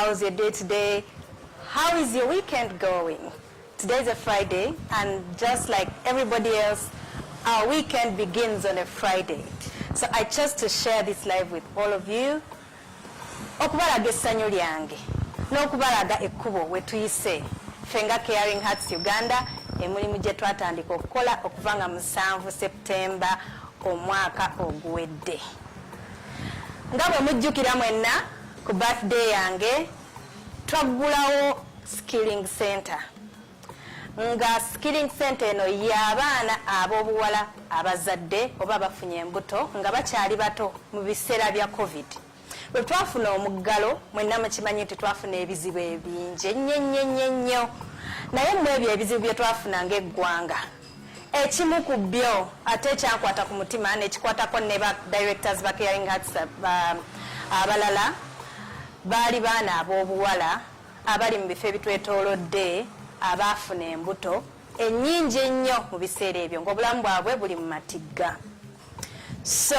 How is your day today? How is your weekend going? Today is a Friday and just like everybody else, our weekend begins on a Friday. So I chose to share this live with all of you. Okubalaga essanyu lyange n'okubalaga ekkubo we tuyise ffe nga Caring Hearts Uganda emirimu gye twatandika okukola okuva nga musanvu September omwaka oguwedde nga bwe mujjukira mwenna ku birthday yange twaggulawo skilling center nga skilling center eno y'abaana ab'obuwala abazadde oba abafunye embuto nga bakyali bato mu biseera bya covid bwe twafuna omuggalo mwenna mukimanyi nti twafuna ebizibu ebingi ennyo nnyo nnyo nnyo naye mu ebyo ebizibu bye twafuna ng'eggwanga Ekimu ku byo ate ekyankwata ku mutima nekikwatako ne ba directors ba Caring Hearts abalala baali baana ab'obuwala abali mu bifo ebitwetoolodde abaafuna embuto ennyingi ennyo mu biseera ebyo ng'obulamu bwabwe buli mu matigga. So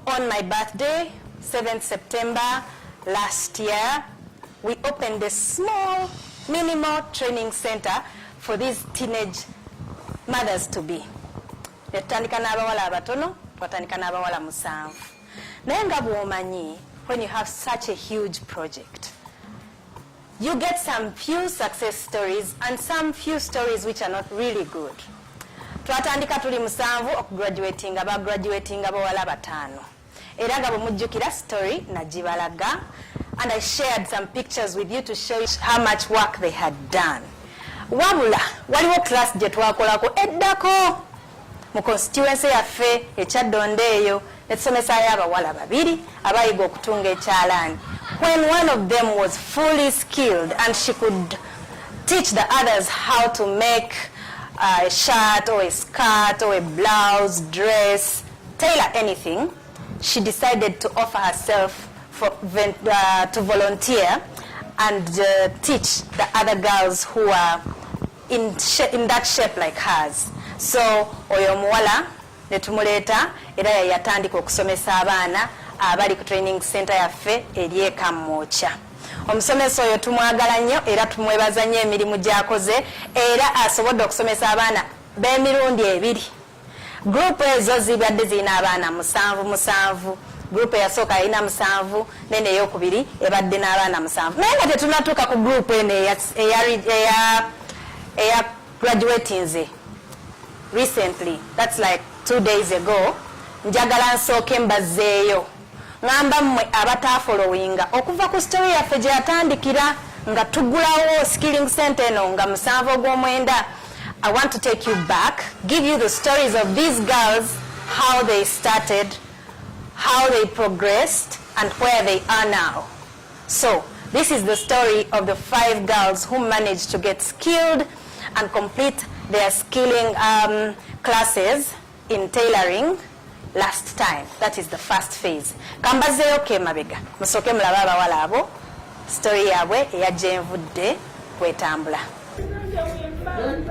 on my birthday, 7th September last year, we opened a small, minimal training center for these teenage mothers to be. Netutandika n'abawala abatono, twatandika n'abawala musanvu. Naye nga bw'omanyi when you have such a huge project, You get some few success stories and some few stories which are not really good. Twatandika tuli musanvu okugraduatinga ba graduatinga bawala bataano era nga bwemujjukira story nagibalaga and I shared some pictures with you to show you how much work they had done. Wabula waliwo class gye twakolako eddako mu konsitiwense yaffe ekyaddonda eyo ne tusomesayo abawala babiri abayiga okutunga ekyalaani when one of them was fully skilled and she could teach the others how to make uh, a shirt or a skirt or a blouse dress tailor anything she decided to offer herself for, uh, to volunteer and uh, teach the other girls who are in, in that shape like hers so oyo omuwala netumuleeta era yayatandika okusomesa abaana abali ku training center yaffe eri ekamwokya omusomesa oyo tumwagala nnyo era tumwebaza nnyo emirimu gyakoze era asobodde okusomesa abaana b'emirundi ebiri Group ezo zibadde zirina abaana musanvu musanvu group eyasooka yalina musanvu nene eyokubiri ebadde n'abaana musanvu naye nga tetunatuuka ku group eno eya graduatinze recently thats like two days ago njagala nsooke mbazeeyo Ngamba mmwe abataafolowinga okuva ku story yaffe gye yatandikira nga tugulawo skilling center eno nga musanvu ogw'omwenda I want to take you back give you the stories of these girls how they started how they progressed and where they are now so this is the story of the five girls who managed to get skilled and complete their skilling um, classes in tailoring last time that is the first phase kambazeeyo ke mabega musooke mulabe abawala abo story yaabwe eya gyenvudde kwetambula Don't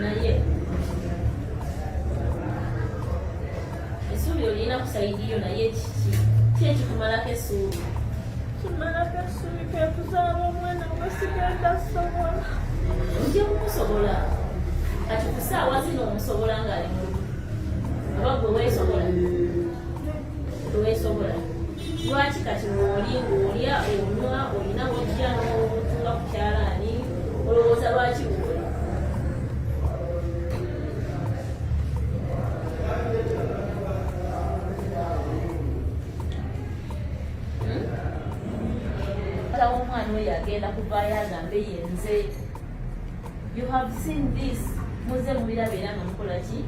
naye esuubi olina kusaidiyo naye kiki ki ekikumalako esuubi kimalako esuubi kekuzaala omwana gwesigenda sobola ojja kumusobola kati kusaawa zino omusobola ngaali mu oba gwe weesobola teweesobola lwaki kati mwoli ng'olya onywa olina wojja n'obutuula ku kyalaani olowooza lwaki woli hmm? omwana oyo agenda kuvaayo agambe yenze you have seen this muze mubiraba era nga mukola ki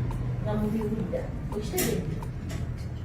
nga mubiwulira okitegedde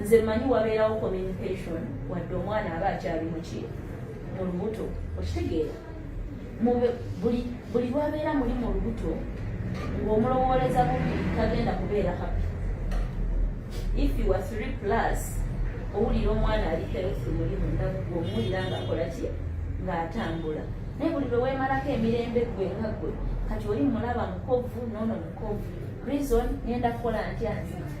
nze manyi wabeerawo communication wadde omwana aba akyali muki mu lubuto okitegeera buli lwabeera muli mu lubuto ng'omulowooleza bubi tagenda kubeera happy if you are three plus owulira omwana ali health muli mundagu omuwulira ngaakola ki ng'atambula naye buli lwe weemalako emirembe gwe nga gwe kati oli mulaba mukovu noono mukovu reason ngenda kukola ntya nziti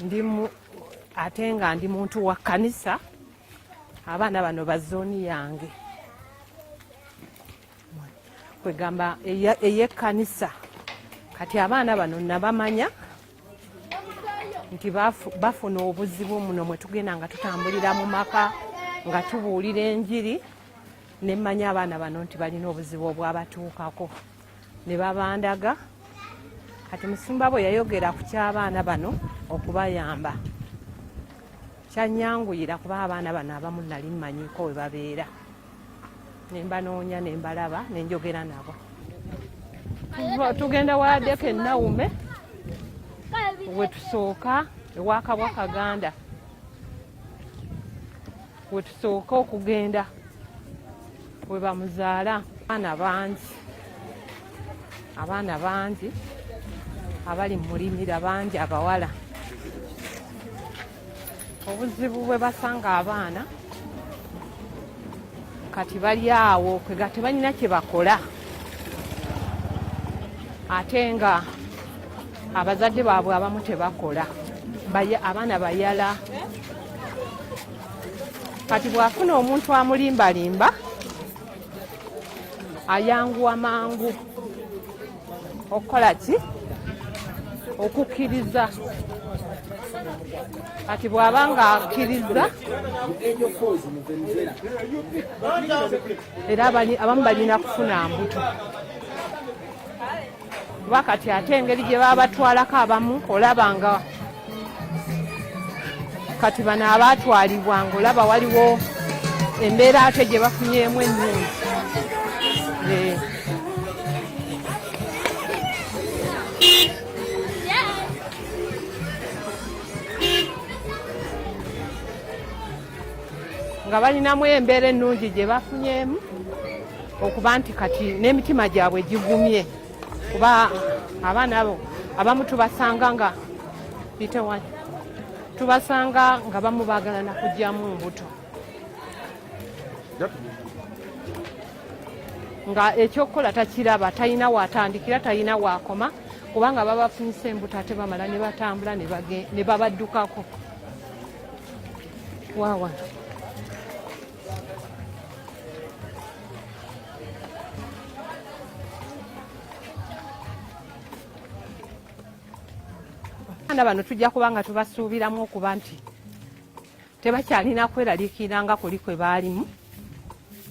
ndi ate nga ndi muntu wa kkanisa abaana bano ba zooni yange kwegamba eyekkanisa kati abaana bano nabamanya nti bafuna obuzibu muno mwe tugenda nga tutambulira mu maka nga tubuulira enjiri nemmanya abaana bano nti balina obuzibu obwabatuukako ne babandaga kati musumba bwe yayogera ku ky'abaana bano okubayamba kyanyanguyira kuba abaana bano abamu nali mmanyiko we babeera ne mbanoonya ne mbalaba ne njogera nabo tugenda wadeko enawume wetusooka ewa kabwa kaganda wetusooka okugenda we bamuzaala abaana bangi abaana bangi abali mulimira bangi abawala obuzibu bwe basanga abaana kati bali awo kwega tebalina kye bakola ate nga abazadde baabwe abamu tebakola abaana bayala kati bw'afuna omuntu amulimbalimba ayanguwa mangu okukola ki okukkiriza kati bw'aba nga akkiriza era abamu balina kufuna mbuto kuba kati ate engeri gye babatwalako abamu olaba nga kati bano abaatwalibwa nga olaba waliwo embeera ate gye bafunyeemu ennungi eh. nga balinamu embeera ennungi gye bafunyeemu okuba nti kati n'emitima gyabwe gigumye kuba abaana abo abamu tubasanga nga bitewani tubasanga nga bamu baagala nakugyamu mbuto nga ekyokukola takiraba talina watandikira talina wakoma kubanga babafunyisa embuto ate bamala ne batambula ne babaddukako wawa abaana bano tujja kuba nga tubasuubiramu okuba nti tebakyalina kweraliikirira nga kuli kwe baalimu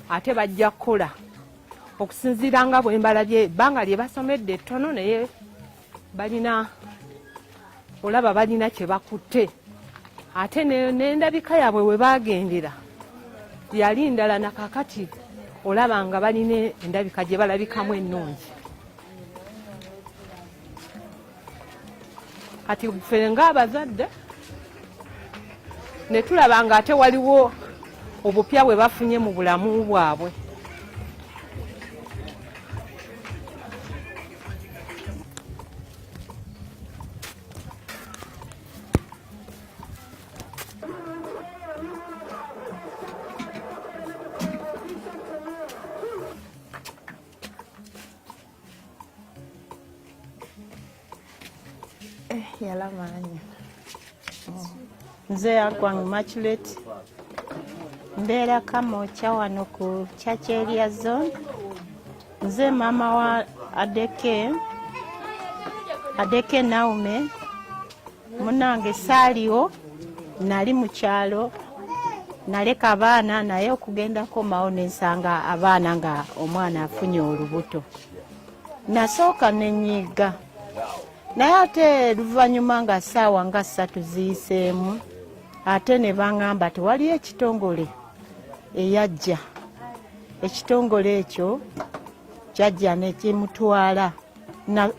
ate bajja kukola okusinziira nga bwembalabye ebbanga lye basomedde ettono naye balina olaba balina kye bakutte ate n'endabika yaabwe we baagendera yali ndala na kakati olaba nga balina endabika gye balabikamu ennungi kati ffe ng'abazadde ne tulaba nga ate waliwo obupya bwe bafunye mu bulamu bwabwe Eh, yala maanyi nze yakwang maculate mbeera kamokya wano ku church area zone Nze mama wa Adeke Adeke Naume munange saaliwo nali mu kyalo naleka abaana naye okugenda komawo nensanga abaana nga omwana afunye olubuto nasooka nenyiga naye ate luvannyuma nga saawa nga ssatu ziyiseemu ate ne baŋŋamba tewaliyo ekitongole eyajja ekitongole ekyo kyajja nekimutwala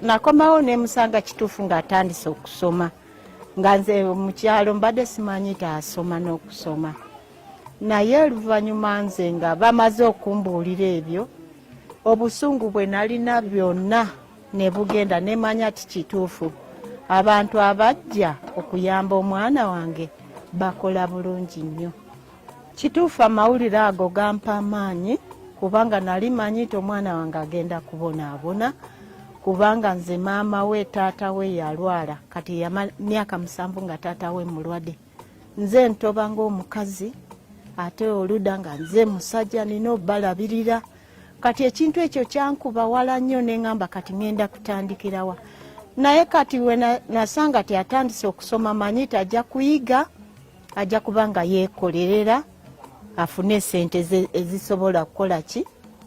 nakomawo nemusanga kituufu ngaatandise okusoma nga nze mukyalo mbadde simanyi taasoma n'okusoma naye oluvannyuma nze nga bamaze okumbuulira ebyo obusungu bwe nalina byonna ne bugenda ne manya ti kituufu abantu abajja okuyamba omwana wange bakola bulungi nnyo kituufu amawulire ago gampa amaanyi kubanga nali manyi nti omwana wange agenda kubonaabona kubanga nze maama we taata we yalwala kati myaka musanvu nga taata we mulwadde nze ntoba ngaomukazi ate oluda nga nze musajja nina obalabirira kati ekintu ekyo kyankuba wala nnyo neŋamba kati ŋenda kutandikirawa naye kati wenasanga ti atandise okusoma manyi ti ajja kuyiga ajja kuba nga yekolerera afune esente ezisobola kukola ki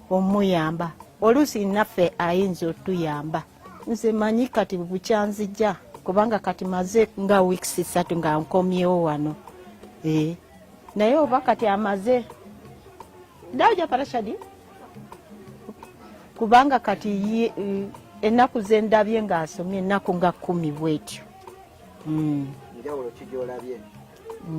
omuyamba oluusi naffe ayinza otuyamba nze manyi kati bukyanzija kubanga kati maze nga weeks satu nga nkomyewo wano eh, naye oba kati amaze ndaja parashadi kubanga kati eh, ennaku zendabye ng'asomye ennaku nga kumi bwetyo hmm.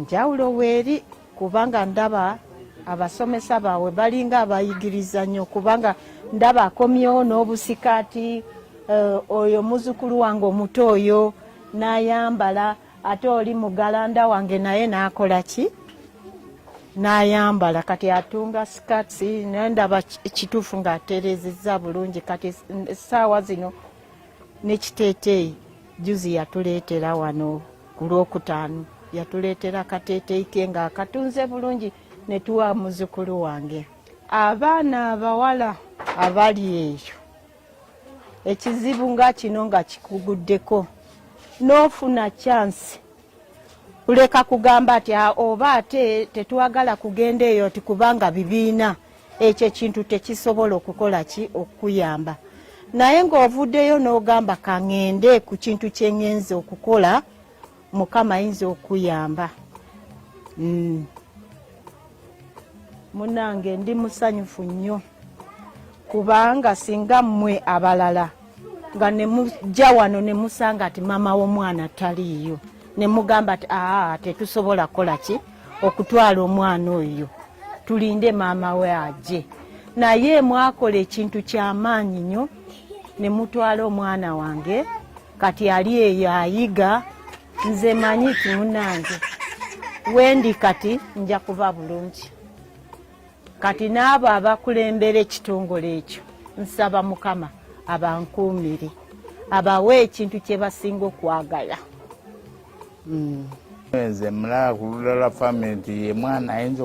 njawulo weeri kubanga ndaba abasomesa bawe balinga abayigiriza nnyo kubanga ndaba akomyewo n'obusikaati eh, oyo muzukulu wange omuto oyo n'ayambala ate oli mugalanda wange naye nakola ki nayambala kati atunga skats nendaba kituufu nga atereziza bulungi kati saawa zino nekiteteeyi juzi yatuleetera wano ku lwokutaano yatuleetera akateteeyi ke nga akatunze bulungi netuwa muzukulu wange abaana abawala abali eyo ekizibu nga kino nga kikuguddeko n'ofuna kyansi kuleka kugamba ati ah, oba ate tetwagala kugenda eyo nti kubanga bibiina ekyo ekintu tekisobola okukola ki okukuyamba naye ng'ovuddeyo n'ogamba kangende ku kintu kyengenza okukola mukama ayinza okuyamba mm. munange ndi musanyufu nnyo kubanga singa mmwe abalala nga nemujja wano nemusanga ti maama w'omwana taliiyo nemugamba ti aa tetusobola kukola ki okutwala omwana oyo tulinde maama we aje naye mwakola ekintu kyamaanyi nnyo nemutwala omwana wange kati ali eyo ayiga nze manyi timunange wendi kati nja kuba bulungi kati n'abo abakulembera ekitongole ekyo nsaba mukama abankuumire abawe ekintu kye basinga okwagala hmm. nze mulaba ku ludala fami nti ye mwana ayinza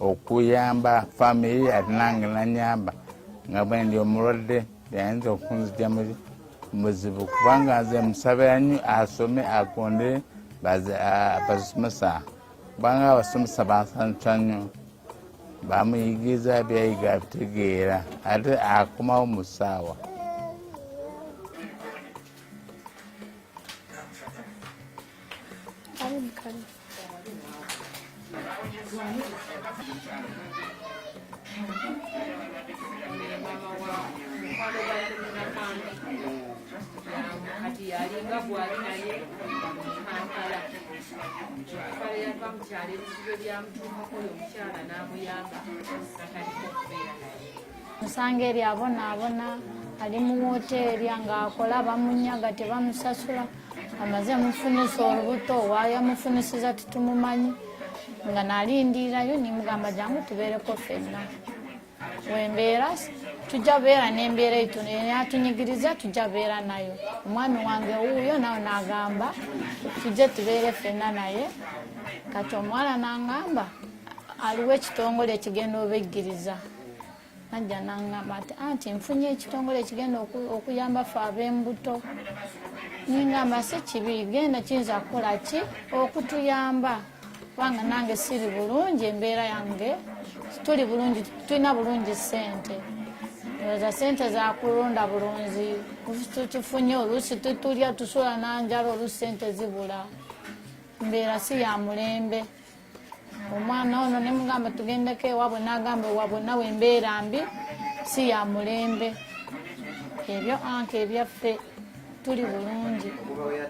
okuyamba famiry ate nange nanyamba nga bwendi omulwadde yayinza okunzija mu buzibu kubanga nze musabira nyo asome agondere bazisomesa kubanga abasomesa bansanyusa nyo bamuyigiriza byayiga abitegeera ate akomawo mu ssaawa kati yalinga gwali naye kampala kale yava mukyalo ebizibe byamutuukako oyo omukyala n'amuyamba atandika okubeera naye osanga eri abonaabona ali mu woteeri ng'akola bamunyaga tebamusasula amaze mufunisa olubuto wayamufunisiza titumumanyi nga nalindirirayo nimugamba jangu tubeereko fenna wembeera tujja beera nembeera etu natunyigiriza tujja beera nayo omwami wange wuuyo nawe nagamba tujje tubeere fenna naye kati omuwala nangamba aliwo ekitongole ekigenda obeggiriza najja nangamba ati anti nfunye ekitongole ekigenda okuyamba fe ab'embuto ningamba si kibi genda kiyinza kukola ki okutuyamba kubanga nange siri bulungi embeera yange tuli bulungi tulina bulungi sente oza sente zakulonda bulunzi tufunye oluusi tutulya tusula nanjala oluusi sente zibula mbeera si ya mulembe omwana ono ne mugamba tugendeko ewabwe n'agamba ewabwe nawe embeera mbi si ya mulembe ebyo anka ebyaffe tuli bulungi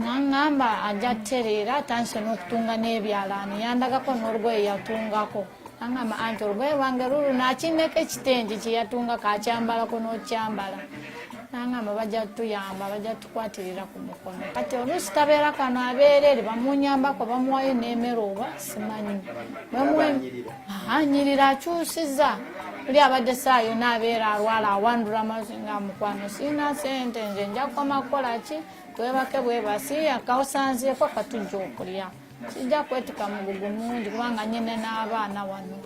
nangamba ajja tereera atandise n'okutunga n'ebyalaani yandagako n'olugoye yatungako nangamba anti olugoye lwange lulu nakineko ekitengi kyeyatunga kakyambalako n'okyambala nangamba bajja tuyamba bajja kwatirira ku mukono kati oluusi kabeera kano abeerere bamunyambako bamuwayo n'emere oba simanyi anyirira akyusiza oli abadde saayo naabeera alwala awandula mazi nga mukwano siina sente nze nja kukoma kukola ki twebake bwebasi akawusanzeeko katujja okulya kijja kwetika mugugu mungi kubanga nyine n'abaana wano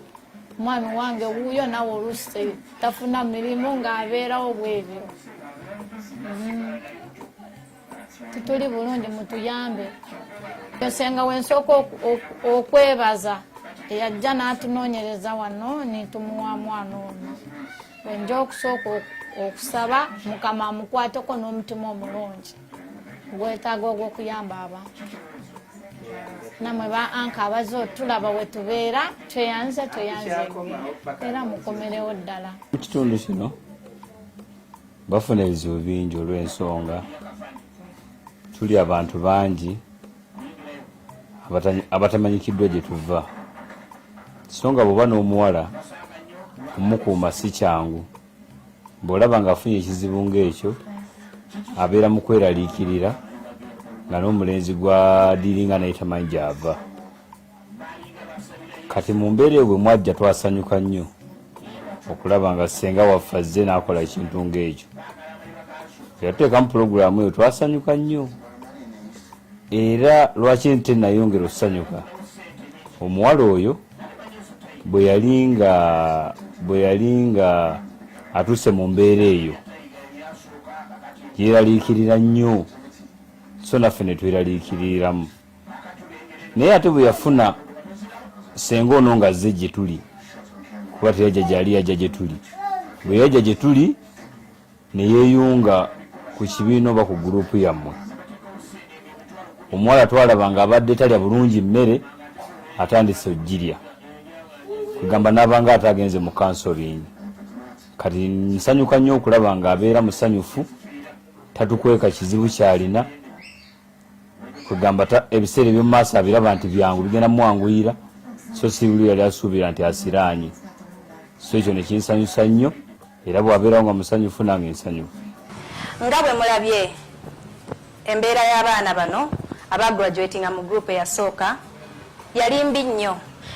omwami wange wuuyo nawe oluusi tafuna mirimu ng'abeerawo bwebyo mm-hmm. tutuli bulungi mutuyambe esenga wensooka okwebaza eyajja n'atunoonyereza wano nitumuwa mwana ono wenja okusooka okusaba mukama amukwateko n'omutima omulungi gwetaaga ogw'okuyamba aba namwe ba anka abaze otulaba wetubeera tweyanze tweyanze era mukomerewo ddala mu kitundu kino bafuna ebizibu bingi olw'ensonga tuli abantu bangi abatamanyikiddwa gye tuva so nga bw'oba n'omuwala omukuuma si kyangu bw'olaba ng'afunye ekizibu ng'ekyo abeera mu kweraliikirira nga n'omulenzi gwadiringa naye tamanyi gy'ava kati mu mbeera eyo bwe mwajja twasanyuka nnyo okulaba nga ssenga waffe azze n'akola ekintu ng'ekyo eyatuteekamu pulogulaamu eyo twasanyuka nnyo era lwaki nte nayongera okusanyuka omuwala oyo bwe yali nga bwe yali nga atuuse mu mbeera eyo yeeraliikirira nnyo so naffe ne tweraliikiriramu naye ate bwe yafuna senga ono nga azze gye tuli kuba teyajja gyali yajja gye tuli bwe yajja gye tuli ne yeeyunga ku kibiina oba ku guruupu yammwe omuwala twalaba nga abadde talya bulungi mmere atandise ogirya kwegamba n'abanga ate agenze mu kansoringi kati nsanyuka nnyo okulaba nga abeera musanyufu tatukweka kizibu kyalina kwegamba ebiseera ebyomu maaso abiraba nti byangu bigenda mumwanguyira so sibuli yali asuubira nti asiraanye so ekyo nekinsanyusa nnyo era bwabeera nga musanyufu nange nsanyufu nga bwe mulabye embeera y'abaana bano aba graduatinga mu group eyasooka yali mbi nnyo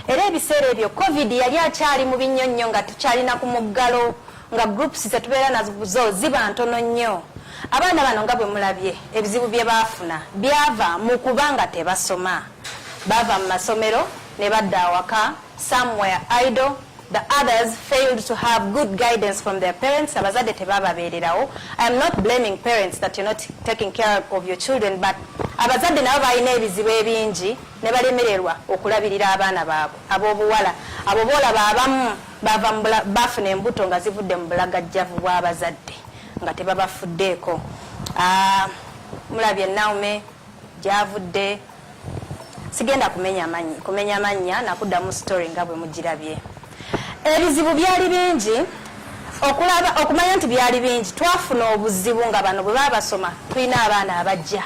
era ebiseera ebyo covid yali akyali mu binnyo nnyo nga tukyalina ku muggalo nga groups zetubeera nazo ziba ntono nnyo abaana bano nga bwe mulabye ebizibu bye baafuna byava mu kuba nga tebasoma baava mu masomero ne badda awaka somewhere idle The others failed to have good guidance from their parents. Abazadde tebababeererawo. I am not blaming parents that you're not taking care of your children, but abazadde nabo balina ebizibu ebingi ne balemererwa okulabirira abaana baabwe ab'obuwala abo boolaba abamu bava bafuna embuto nga zivudde mu bulagajjavu bw'abazadde nga tebabafuddeeko. Ah, mulabye Naume gyavudde sigenda kumenya manyi kumenya mannya nakuddamu story nga bwe mugirabye ebizibu byali bingi okulaba okumanya nti byali bingi twafuna obuzibu nga bano bwe baba basoma tulina abaana abajja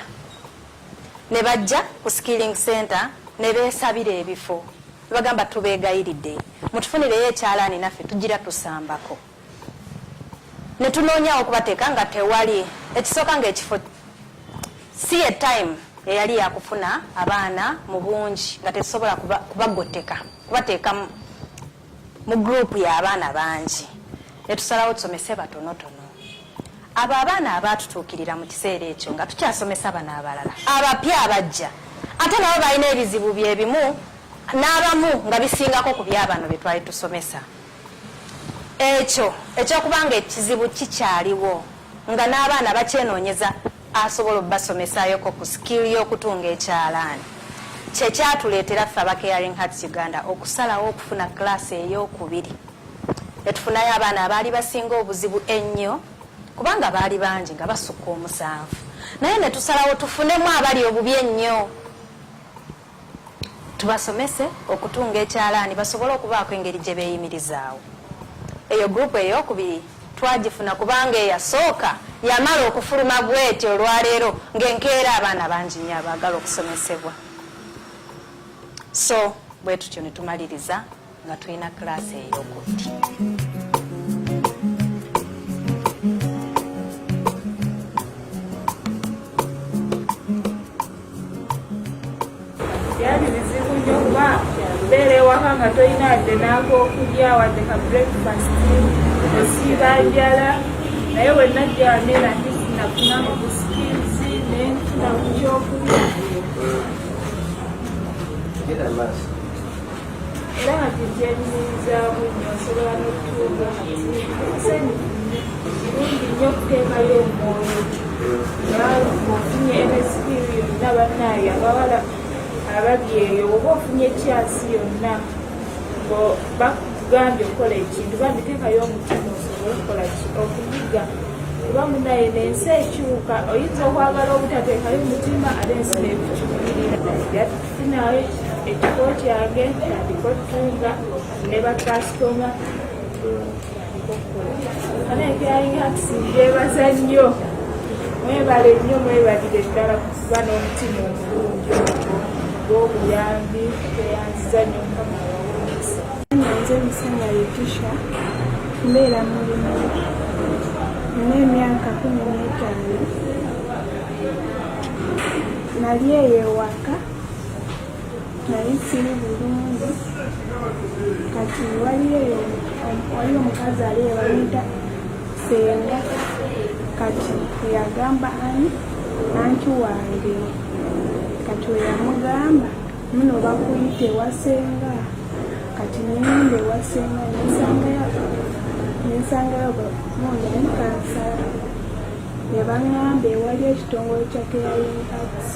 ne bajja ku skilling center ne beesabira ebifo bagamba tubeegayiridde mutufunireyo ekyalaani naffe tugira tusambako ne tunoonyawo okubateeka nga tewali ekisooka ng'ekifo si ye time eyali yakufuna abaana mu bungi nga tetusobola kubagotteka kubateeka mu gurupu y'abaana bangi ne tusalawo tusomese batonotono abo abaana abaatutuukirira mu kiseera ekyo nga tukyasomesa bano abalala abapya abajja ate nabo balina ebizibu bye bimu n'abamu nga bisingako ku byabano bye twali tusomesa Ekyo ekyokuba nga ekizibu kikyaliwo nga n'abaana bakyenoonyeza asobola okubasomesaayoko ku skill y'okutunga ekyalaani kye kyatuleetera ffe aba Caring Hearts Uganda okusalawo okufuna class ey'okubiri ne tufunayo abaana abaali basinga obuzibu ennyo kubanga baali bangi nga basukka omusanvu naye ne tusalawo tufunemu abali obubi ennyo Tubasomese okutunga ekyalaani basobole okubaako engeri gye beeyimirizaawo. Eyo gurupu eyookubiri twagifuna kubanga eyasooka yamala okufuluma bweti olwaleero ng'enkeera abaana bangi nnyo abaagala okusomesebwa so bwe tutyo ne tumaliriza nga tulina kiraasi ey'okutti byali bizibu nnyo kuba beera ewaka nga tolina adde n'akokulya wadde ka breakfast osiiba njala naye wenajja waneera ntisinafuna Get that last. era nga gye gyenyumirizaamu nyo nsobola n'okutuuka nsanyufu kirungi nnyo okuteekayo omwoyo nga ofunye emesipiri yonna bannaayo abawala abali eyo oba ofunye ekyasi yonna bakugambye okukola ekintu bambi teekayo omutima osobole okukola okuyiga kuba munaye nensi ekyuka oyinza okwagala obutateekayo omutima ate ensi nekukyukirira Sinawe ekifo kyange natandika okutunga ne bakasitoma ana ekyalinga tusinjebaza nnyo mwebale nnyo mwebalire ddala kuba n'omutima omulungi gw'obuyambi tweyanziza nnyo mukama wawomesa nze musanya letisha mbeera mulimu n'emyaka kumi n'etaano nali eyo ewaka nali siri bulungi kati waliyo waliyo omukazi ali ebayita senga kati yagamba ani anti wange kati weyamugamba muno bakuyita ewasenga kati neyenda ewasenga nensangayo nensangayo mundamukansala Yabang'amba ewali ekitongole kya Caring Arts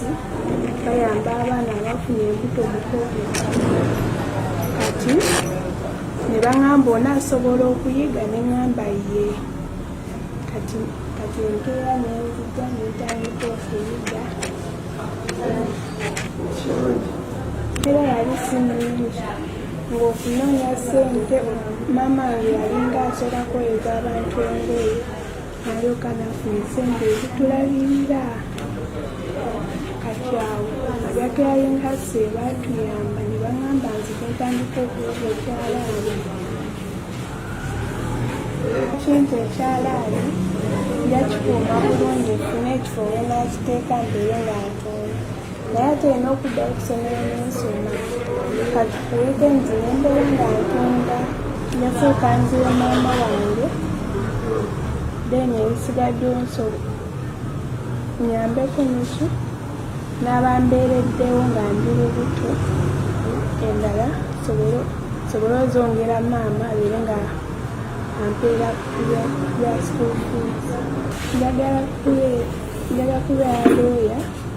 bayamba abaana abafuna embuto mu covid kati ne bang'amba onaasobola okuyiga ne ng'amba ye kati kati enkeera nenzija nentandika okuyiga era yali sinungi ng'okunoonya ssente maama nge yalinga asobola kweyeza abantu engoye naye okanafu esente ezitulabirira kati awo abyatulayinkasi batuyamba ne bagamba nti twetandika okuwuga ekyalaani ekintu ekyalaani yakikuuma bulungi funa ekifo wenakiteeka mbeere nga ntunga naye ate olina okuddayo okusomero nensoma kati ku wikendi nembeera nga ntunda nafuuka nzira maama wange then ebisigadde nso nyambeko neki n'abambeereddewo nga ndi lubuto endala sobole ozongera maama abeere nga ampeera ya school fees njagala kubeera looya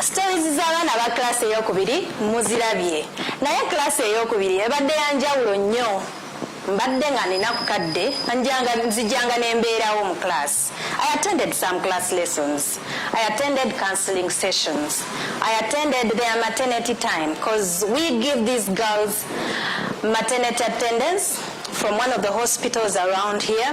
Stories z'abaana ba class eyokubiri muzirabye naye class eyokubiri ebadde ya njawulo nnyo mbadde nga nina ku kadde nzijanga nembeerawo mu class i attended some class lessons i attended counseling sessions i attended their maternity time because we give these girls maternity attendance from one of the hospitals around here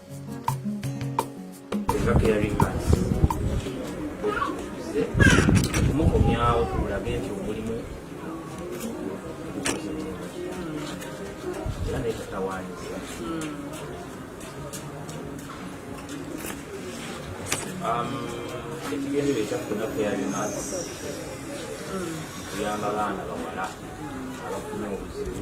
kumukomyawo kulage nti omulimu era nekatawanyiza ekigendero ekyaffe naffe yabimaz kuyamba baana bawala abafuna obuzibu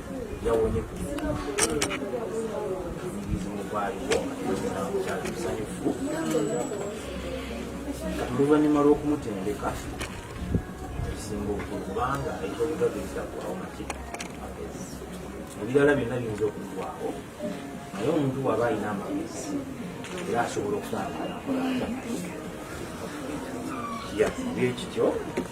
yawonye ku muzimu gwaliwo kyali musanyufu oluvannyuma lw'okumutendeka ekisinga obukulu kubanga ekyobugagiriza kwawo maki magezi ebirala byonna biyinza okugwawo naye omuntu waba alina amagezi era asobola okutambula nakola bye kityo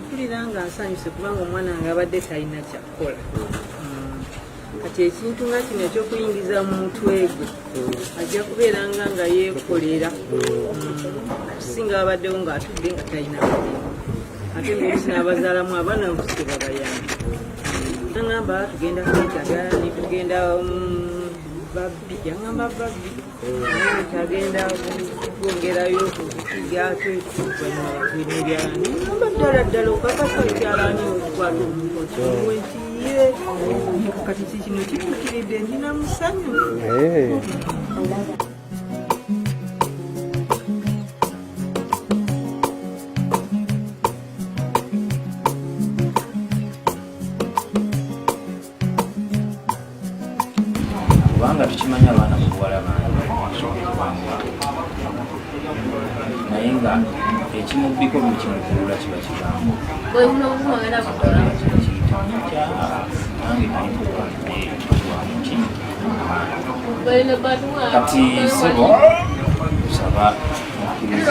mpulira nga nsanyuse kubanga omwana nga abadde talina kyakukola kati ekintu nga kino ekyokuyingiza mu mutwe gwe ajja kubeera nga nga yeekolera okusinga abaddewo ng'atudde nga talina ate ngaolusi n'abazaalamu abaana nkusike babayamba nangamba tugenda kwetaga netugenda mm, babbi yangamba babbi agenda kwongerayo okukigyako ekibanyabakwiribyani aba ddala ddala okakasa ekyalani okukwata omuntu okimuwe nti ye kati kikino kitukiridde ndina musanyu kubanga tukimanyi abaana mubuwala bangebanguwa naye nga ekimubbiko buli kimukulula kiba kigambo kati sebo saba mukkirize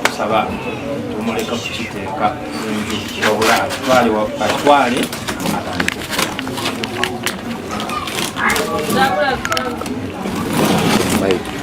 tusaba tumuleka kukiteeka wabula atwale atwale Thank you.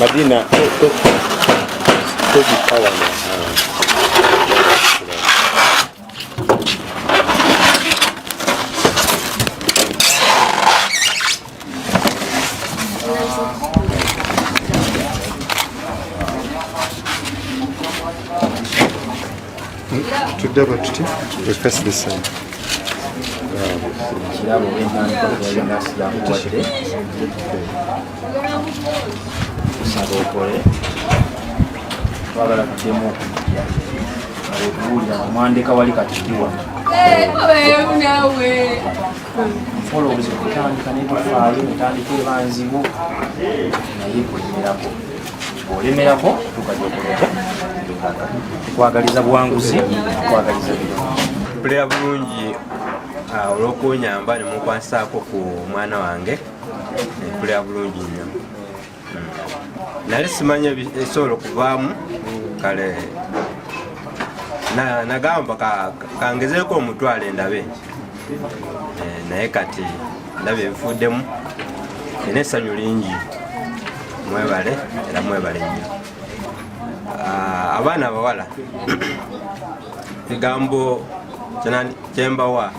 Madina, tobi power na. tudde bwe tuti we face the same kirabo wentandika yali nasi yakuwadde kusaba okole twagala tuddemu okujja okuwulira omwandeka wali katikiwa mpola obuzibu kutandika nebufaayo otandika ebanzibu naye kwenyerako olemerako tukajja okuleta tukwagaliza buwanguzi tukwagaliza bino bulungi ah, olwokunyamba nemunkwasaako ku mwana wange mpulira eh, bulungi nnyo hmm. nali simanya esobola okuvaamu kale nagamba kangezeeko omutwalo endabe eh, naye kati ndabye ebifuuddemu ina essanyu lingi mwebale era mwebale nnyo ah, abaana abawala ekigambo kyembawa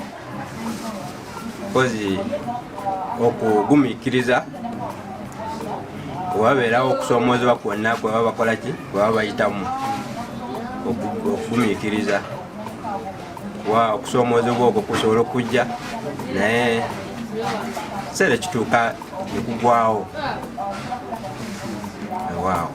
kozi okugumikiriza webabeerawo okusoomoozebwa kwonna kwebaba bakolaki kwebaba bayitamu okugumikiriza wa okusoomoozebwa okwo kusobola okujja naye kiseera ekituuka nekugwawo waawo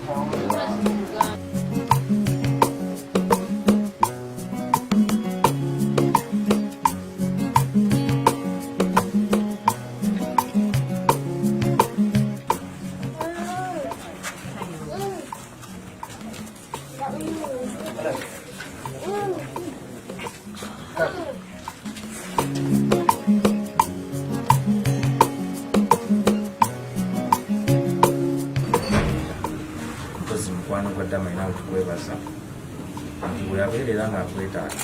mpozi mukwano gwa dama ina otukwebaza nti bweyabeerera ngaakwetaaga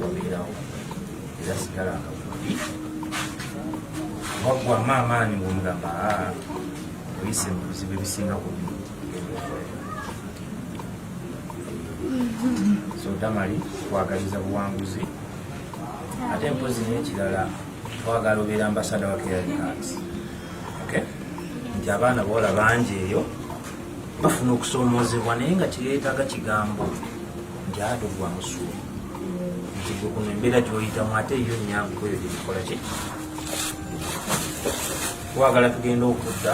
wabeerawo era sigala akakubi waggwamu amaanyi ng'omugamba ah, oyise mu bizibu ebisinga ku bino so damali twagaliza buwanguzi ate mpozi nekirala twagala obeera ambasada wa keralikas nti abaana boola bangi eyo bafuna okusoomoozebwa naye nga kireetaga kigambo nti ado gwa musuumu nti gwe kuno embeera gyoyitamu ate yo nyangu kweyo gyebikola ki twagala tugenda okudda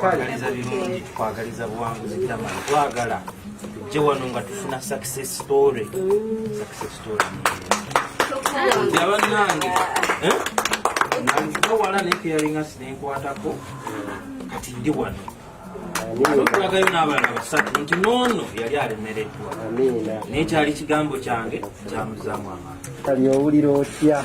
kwagaliza birungi kwagaliza buwanguzi tamani twagala tujje wano nga tufuna success story success story abanange eh? nange wala naye keyalinga sinenkwatako kati ndi wano okulagayo n'abaana basatu nti noono yali alemereddwa naye kyali kigambo kyange kyamuzaamu amaani kali owulira otya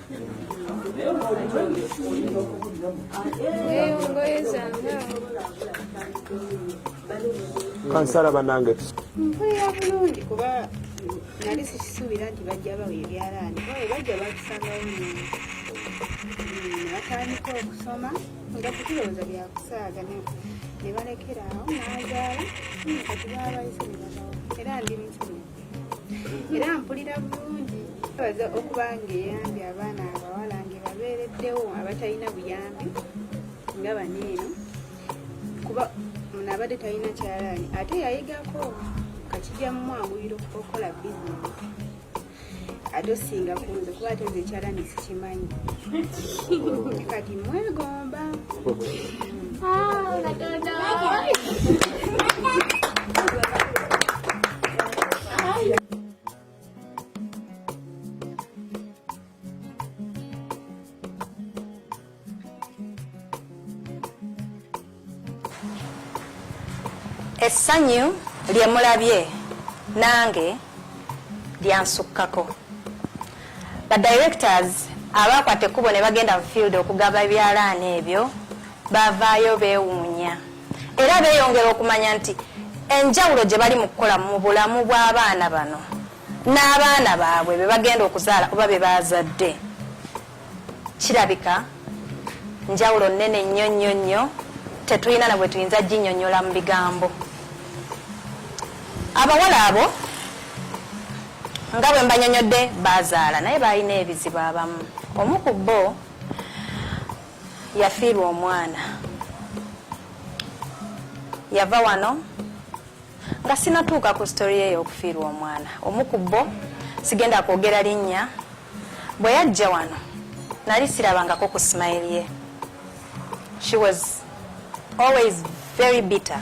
kansala banange mpulira bulungi kuba nali sikisuubira nti bajja bawa ebyalaani bawe bajja bakusangawo nini natandika okusoma nga kutulowooza byakusaaga ne balekera awo nazaala kati babayise ne babawo era ndi mukirungi era mpulira bulungi baza okuba ng'eyambye abaana abawala ngebabeereddewo abatalina buyambi nga bano eno kuba munaabadde talina kyalaani ate yayigako kakijja mu mwanguyiro okukola bizinesi ate osinga kunze kuba ate nze ekyalaani sikimanyi kati mwegomba essanyu lye mulabye nange lyansukkako Ba directors abaakwata ekkubo ne bagenda mu field okugaba ebyalaani ebyo baavaayo beewuunya era beeyongera okumanya nti enjawulo gye bali mu kukola mu bulamu bw'abaana bano n'abaana baabwe be bagenda okuzaala oba be baazadde kirabika njawulo nnene nnyo nnyo nnyo tetulina na bwe tuyinza ginyonyola mu bigambo abawala abo nga bwe mbanyonyodde baazaala naye baalina ebizibu abamu omu ku bo yafiirwa omwana yava wano nga sinatuuka ku sitori ye y'okufiirwa omwana omu ku bo sigenda kwogera linnya bwe yajja wano nali sirabangako ku simayiri ye she was always very bitter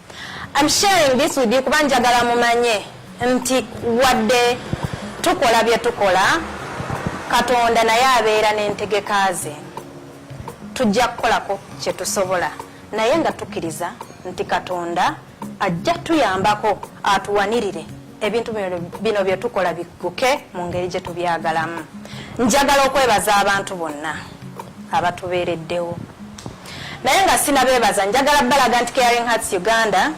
I'm sharing this with you kuba njagala mumanye nti wadde tukola bye tukola katonda naye abeera n'entegeka ze tujja kukolako kye tusobola naye nga tukkiriza nti katonda ajja tuyambako atuwanirire ebintu bino bye tukola bigguke mu ngeri gye tubyagalamu njagala okwebaza abantu bonna abatubeereddewo naye nga sinabeebaza njagala balaga nti caring hearts uganda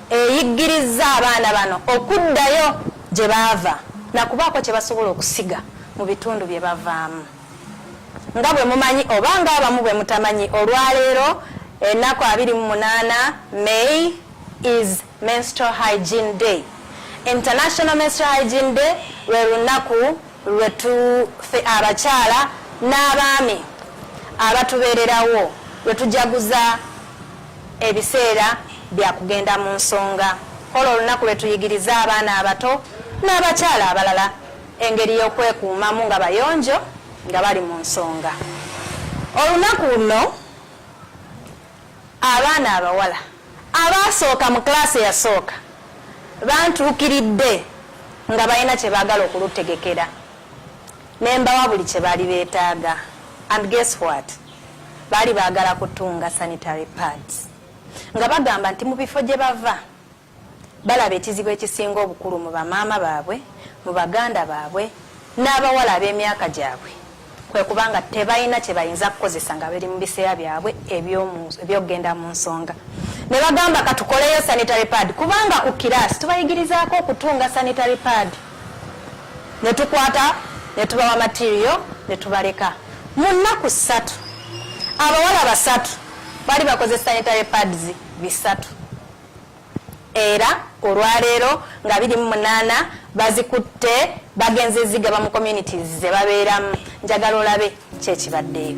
eyiggirizza abaana bano okuddayo gye baava nakubaako kye basobola okusiga mu bitundu bye bavaamu nga bwe mumanyi oba nga abamu bwe mutamanyi olwaleero enaku 28 may is Menstrual Hygiene Day. International Menstrual Hygiene Day lwe lunaku lwe tufe abakyala n'abaami abatubeererawo lwe tujaguza ebiseera bya kugenda mu nsonga. Olwo olunaku lwe tuyigiriza abaana abato n'abakyala abalala engeri y'okwekuumamu nga bayonjo nga bali mu nsonga. Olunaku luno Abaana abawala abaasooka mu class eyasooka bantuukiridde nga balina kye baagala okulutegekera ne mbawa buli kye baali beetaaga and guess what baali baagala kutunga sanitary pads nga bagamba nti mu bifo gye bava Balaba ekizibu ekisinga obukulu mu bamaama baabwe, mu baganda baabwe n'abawala ab'emyaka gyabwe kwe kuba nga tebalina kye bayinza kukozesa nga bali mu biseera byabwe eby'okugenda mu nsonga ne bagamba katukoleyo sanitary pad kubanga ku kiraasi tubayigirizaako okutunga sanitary pad ne tukwata ne tubawa materiyo ne tubaleka mu nnaku ssatu abawala basatu bali bakoze sanitary pads bisatu era olwaleero nga biri mu munaana bazikutte bagenze zigaba mu communities ze babeeramu njagala olabe kyekibaddeyo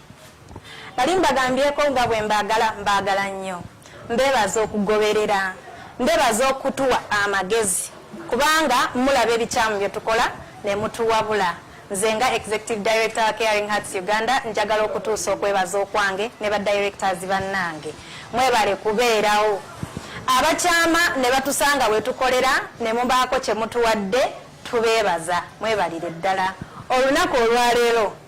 Nali mbagambyeko nga bwe mbaagala mbaagala nnyo. Mbeebaza okugoberera. Mbeebaza okutuwa amagezi kubanga mulaba ebikyamu bye tukola ne mutuwabula. Nze nga Executive Director wa Caring Hearts Uganda njagala okutuusa okwebaza okwange ne ba directors bannange. Mwebale kubeerawo. Abakyama ne batusanga we tukolera ne mubaako kye mutuwadde tubeebaza. Mwebalire ddala. Olunaku olwaleero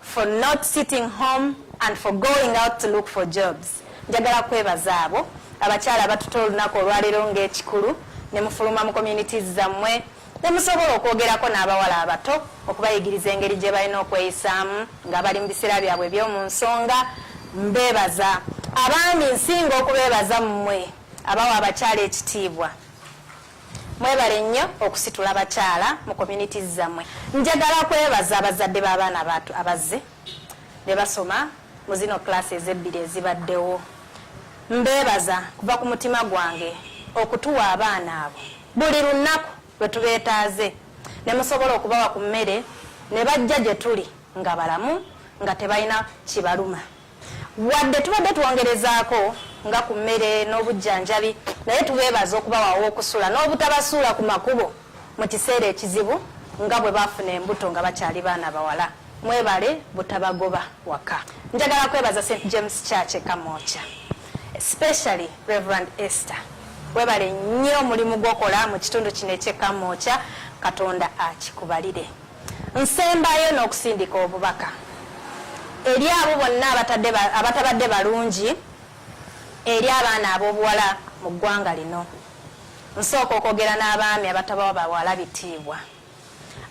for not sitting home and for going out to look for jobs njagala kwebaza abo abakyala abatuta olunaku olwaleero ng'ekikulu ne mufuluma mu communities zammwe ne musobola okwogerako n'abawala abato okubayigiriza engeri gye balina okweyisaamu nga bali mu biseera byabwe eby'omu nsonga mbeebaza abaami nsinga okubeebaza mmwe abawa abakyala ekitiibwa Mwebale nnyo okusitula bakyala mu communities zamwe. Njagala kwebaza abazadde b'abaana batu abazze ne basoma mu zino class ezebbiri ezibaddewo. Mbeebaza kuva ku mutima gwange okutuwa abaana abo buli lunaku lwe tubeetaaze ne musobola okubawa ku mmere ne bajja gye tuli nga balamu nga tebalina kibaluma. Wadde tubadde twongerezaako nga ku mmere n'obujjanjabi naye tubeebaza okubawa aw'okusula n'obutabasuula ku makubo mu kiseera ekizibu nga bwe baafuna embuto nga bakyali baana bawala mwebale butabagoba waka njagala kwebaza st james church ekamoca especially reverend esther webale nnyo omulimu gwokola mu kitundu kino ekyekamoca katonda akikubalire Nsembayo n'okusindika obubaka eri abo bonna abatabadde balungi eri abaana ab'obuwala mu ggwanga lino. Nsooka okwogera n'abaami abatabawa bawala bitiibwa,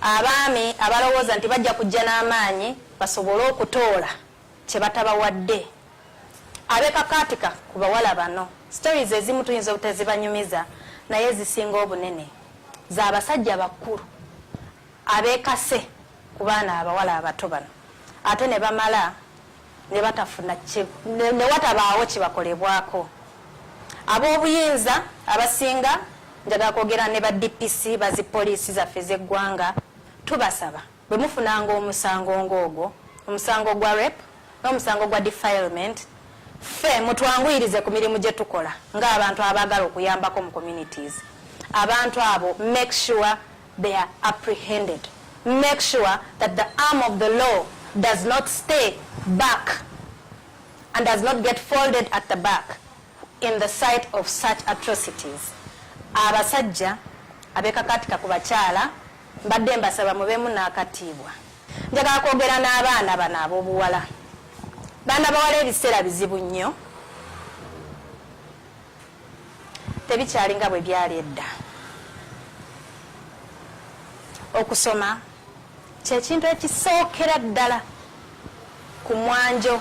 abaami abalowooza nti bajja kujja n'amaanyi basobole okutoola kyebatabawadde abekakaatika ku bawala bano stories ezimu tuyinza obutezibanyumiza naye zisinga obunene za basajja bakulu abekase ku baana abawala abato bano ate ne bamala ne batafuna ne watabaawo kibakolebwako ab'obuyinza abasinga njagala kwogera ne ba dpc bazi poliisi zaffe z'eggwanga tubasaba Bwe mufunanga omusango ng'ogwo, omusango gwa rape n'omusango gwa defilement, ffe mutwanguyirize ku mirimu gye tukola ng'abantu abaagala okuyambako mu communities. Abantu abo make sure they are apprehended. Make sure that the arm of the law does not stay back and does not get folded at the back in the sight of such atrocities. Abasajja abekakatika ku bakyala Mbadde mbasaba mubeemu n'akatiibwa. Njagala kwogera n'abaana bano ab'obuwala. Baana bawala ebiseera bizibu nnyo. Tebikyali nga bwe byali edda. Okusoma kyekintu ekisookera ddala ku mwanjo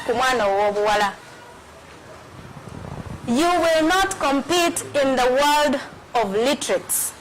ku mwana ow'obuwala. You will not compete in the world of literates.